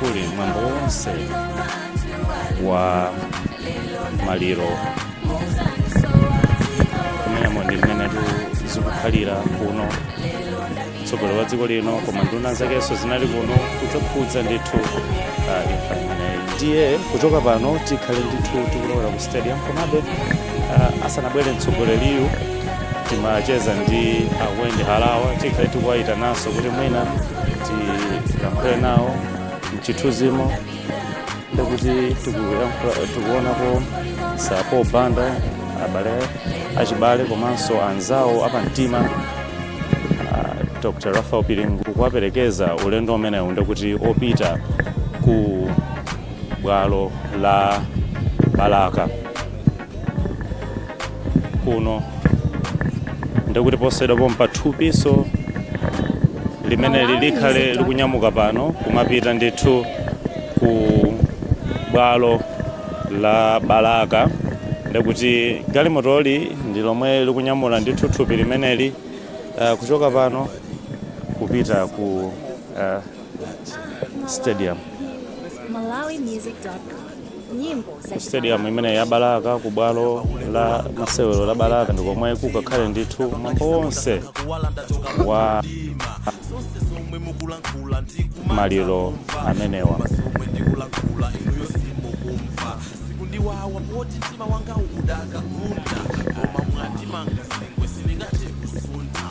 kuli mwambo wonse wa maliro kumeneko ndi mmenetu zikukhalira kuno mtsogoleri wa dziko lino koma nduna zakenso zinali kuno kudzakhudza ndithu ah, imfa imeneyi ndiye kuchoka pano tikhale ndithu tikulowera ku stadium komabe ah, asanabwere mtsogoleriyu timacheza ndi a wendy harawa tikhale tikuwayitananso kuti mwina tilankhule nawo mchithunzimo ndikuti tikuyankhula- tikuonako sam banda abale achibale komanso anzawo apamtima uh, dr lucius banda kuwaperekeza ulendo umenewu ndikuti opita ku bwalo la balaka kuno ndikuti posachedwa pompa thupinso limeneli likhale likunyamuka pano kumapita ndithu ku bwalo la balaka ndikuti galimotoli ndi lomwe likunyamula ndithu thupi limeneli uh, kuchoka pano kupita ku uh, stadium stadium imene ya balaka ku bwalo la masewero la balaka ndi komwe kukakhale ndithu mwambo wonse wa maliro amenewa sikuti wawa poti mtima wanga udakakunda koma mwandimanga zingwe sindingathe kusuntha